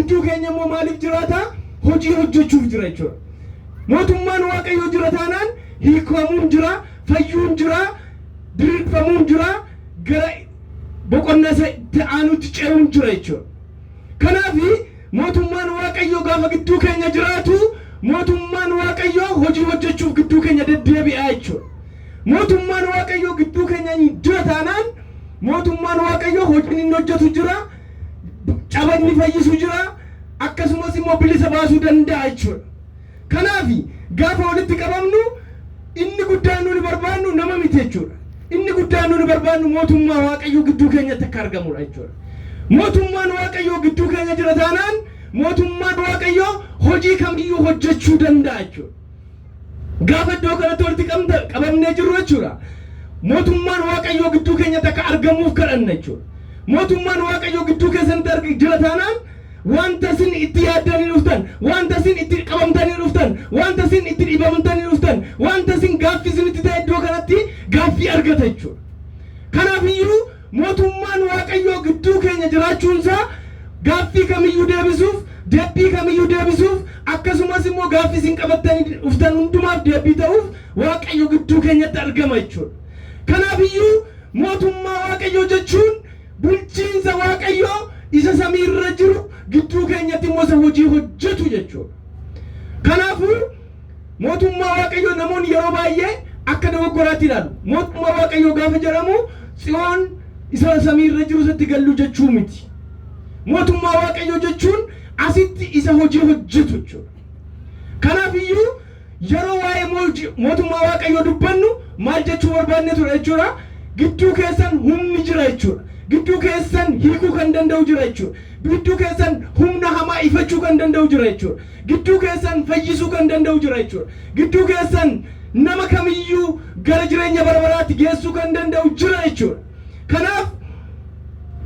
Hunduu keenya immoo maaliif jiraata? Hojii hojjechuuf jira jechuudha. Mootummaan Waaqayyoo jira taanaan hiikamuun jira, fayyuun jira, diriirfamuun jira, gara boqonnaa isa itti aanutti ce'uun jira jechuudha. Kanaaf mootummaan Waaqayyoo gaafa gidduu keenya jiraatu mootummaan Waaqayyoo hojii hojjechuuf gidduu keenya deddeebi'aa jechuudha. Mootummaan Waaqayyoo gidduu keenya jira taanaan mootummaan Waaqayyoo hojiin inni hojjetu jira, caban ni fayyisu jira akkasumas immoo bilisa baasuu danda'a jechuudha. Kanaaf gaafa walitti qabamnu inni guddaan nuni barbaannu nama miti jechuudha. Inni guddaan nuni barbaannu mootummaa Waaqayyoo gidduu keenyatti akka argamudha jechuudha. Mootummaan Waaqayyoo gidduu keenya jira taanaan mootummaan Waaqayyoo hojii kamiyyuu hojjechuu danda'a jechuudha. Gaafa iddoo kanatti walitti qabamta- qabamnee jirru jechuudha. Mootummaan Waaqayyoo gidduu keenyatti akka argamuuf kadhanna jechuudha. Mootummaan Waaqayyoo gidduu keessanitti arg- jira taanaan wanta isin itti yaaddanii dhuftan, wanta isin itti qabamtanii dhuftan, wanta isin itti dhibamtanii dhuftan, wanta isin gaaffii isinitti ta'e iddoo kanatti gaaffii argata jechuudha. Kanaaf iyyuu Mootummaan Waaqayyoo gidduu keenya jiraachuun isaa gaaffii kamiyyuu deebisuuf, deebbii kamiyyuu deebisuuf, akkasumas immoo gaaffii isin qabattanii dhuftan hundumaaf deebbii ta'uuf Waaqayyo gidduu keenyatti argama jechuu dha. Kanaaf iyyuu mootummaa Waaqayyoo jechuun bulchiinsa Waaqayyoo isa samii irra jiru gidduu keenyatti immoo isa hojii hojjetu jechuu dha. Kanaafuu, Mootummaa Waaqayyoo namoonni yeroo baay'ee akka dogoggoraatti ilaalu. Mootummaa Waaqayyoo gaafa jedhamu Tsiyoon isa samii irra jiru isatti gallu jechuu miti. Mootummaa Waaqayyoo jechuun asitti isa hojii hojjetu jechuudha. Kanaaf iyyuu yeroo waa'ee mootummaa Waaqayyoo dubbannu maal jechuu barbaadne ture jechuudha? Gidduu keessan humni jira jechuudha. Gidduu keessan hiikuu kan danda'u jira jechuudha. Gidduu keessan humna hamaa ifachuu kan danda'u jira jechuudha. Gidduu keessan fayyisuu kan danda'u jira jechuudha. Gidduu keessan nama kamiyyuu gara jireenya bara baraatti geessuu kan danda'u jira jechuudha. Kanaaf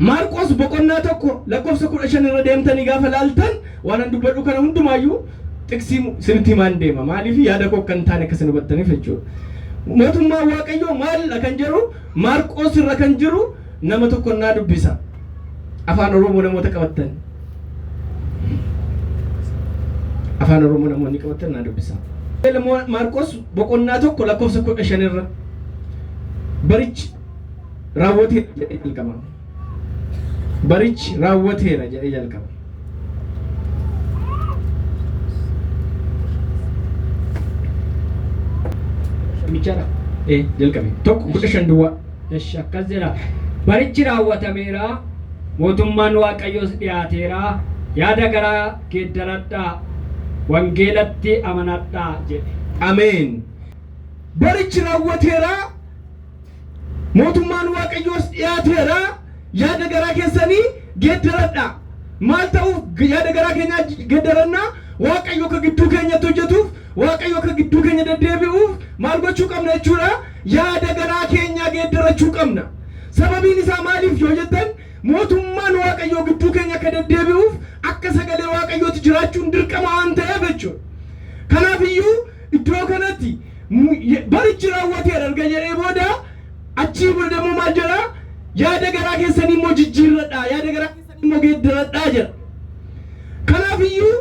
Maarqos boqonnaa tokko lakkoofsa kudha shan irra deemtanii gaafa laaltan waanan dubbadhu kana hundumaayyuu xiqsii isinitti himaan deema. Maaliif yaada koo akka hin taane akka isin hubattaniif jechuudha. Mootummaan Waaqayyoo maalidha kan jedhu Maarqos irra kan jiru Nama tokkon naa dubbisa. Afaan Oromoo namoota qabattan. Afaan Oromoo namoonni qabattan naa dubbisa. Wangeela Maarqos boqonnaa tokko lakkoofsa kudha shan irra barichi raawwateera jedhee jalqaba. Barichi raawwateera jedhee jalqaba. Michaadha. Ee jalqabe. Tokko kudha shan duwwaa. Esh akkas jedha. Barichi raawwatameera, mootummaan Waaqayyoos dhiyaateera, yaada garaa geeddaradhaa, wangeelatti amanadhaa jedhe. Ameen! Barichi raawwateera, mootummaan Waaqayyoos dhiyaateera, yaada garaa keessanii geeddaradhaa. Maal ta'uuf yaada garaa keenyaa geeddaranna? Waaqayyo akka gidduu keenyatti hojjetuuf, Waaqayyo akka gidduu keenya deddeebi'uuf maal gochuu qabna jechuudha? Yaada garaa keenyaa geeddarachuu qabna. Sababiin isaa maaliif yoo jettan, mootummaan Waaqayyoo gidduu keenya akka deddeebi'uuf akka sagalee Waaqayyooti jiraachuun dirqama waan ta'eef jechuudha. Kanaaf iyyuu iddoo kanatti barichi raawwateera erga jedhee booda achii booda immoo maal jedha? Yaada garaa keessanii immoo jijjiirradhaa, yaada garaa keessanii immoo geeddaradhaa jedha. Kanaaf iyyuu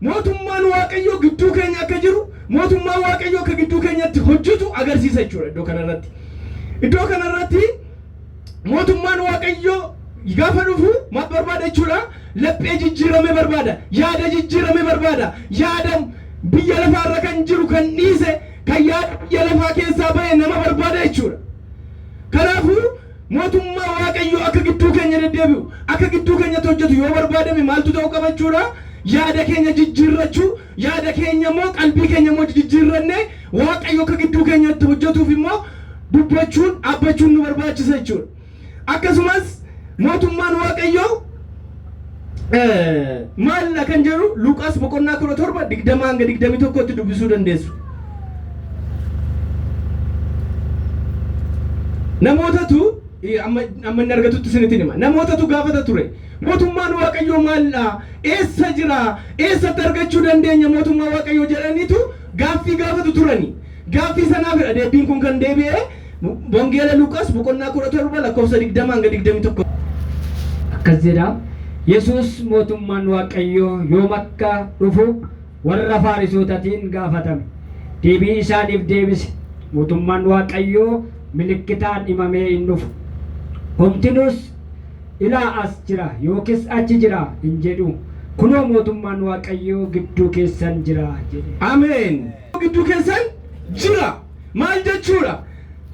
Mootummaan Waaqayyoo gidduu keenya akka jiru, mootummaan Waaqayyoo akka gidduu keenyatti hojjetu agarsiisa jechuudha iddoo kana irratti. Iddoo kana irratti mootummaan Waaqayyoo gaafa dhufu maal barbaada jechuudha? Laphee jijjiirame barbaada, yaada jijjiirame barbaada, yaada biyya lafaa irra kan jiru kan dhiise, kan yaada biyya lafaa keessaa ba'e nama barbaada jechuudha. Kanaafuu Mootummaa Waaqayyoo akka gidduu keenya deddeebi'u, akka gidduu keenyatti hojjetu yoo barbaadame maaltu ta'uu qaba jechuudha? Yaada keenya jijjiirrachuu, yaada keenya immoo, qalbii keenya immoo jijjiirrannee Waaqayyo akka gidduu keenyatti hojjetuuf immoo dubbachuun, dhaabbachuun nu barbaachisa jechuudha. Akkasumas mootummaan Waaqayyoo Maalla kan jedhu Luqaas boqonnaa kudha torba digdama hanga digdamii tokkotti dubbisuu dandeessu. Namootatu amma amma inni argatutti isinitti hima. Namootatu gaafata ture. Mootummaan Waaqayyoo maaldha? Eessa jira? Eessatti argachuu dandeenya mootummaa Waaqayyoo jedhaniitu gaaffii gaafatu turani. Gaaffii sanaafidha deebiin kun kan deebi'e. Wangeela Luqaas boqonnaa 17 lakkoofsa 20 hanga 21. Akkas jedha, Yesuus mootummaan Waaqayyoo yoom akka dhufu warra Faarisootatiin gaafatame. Deebii isaaniif deebise, Mootummaan Waaqayyoo milikkitaan himamee hin dhufu. Homtinuus, Ilaa as jira yookis achi jira hin jedhu. Kunoo mootummaan Waaqayyoo gidduu keessan jira jedhe. Ameen! gidduu keessan jira. Maal jechuudha?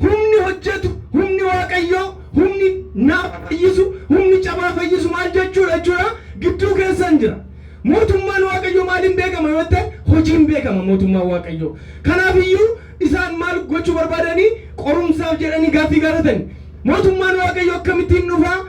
Humni hojjetu, humni Waaqayyoo, humni naafa fayyisu, humni cabaa fayyisu maal jechuudha jechuudha? Gidduu keessan jira. Mootummaan Waaqayyoo maaliin beekama yoo ta'e hojiin beekama mootummaan Waaqayyoo. Kanaaf iyyuu isaan maal gochuu barbaadanii qorumsaaf jedhanii gaaffii gaafatani. Mootummaan Waaqayyoo akkamittiin dhufaa?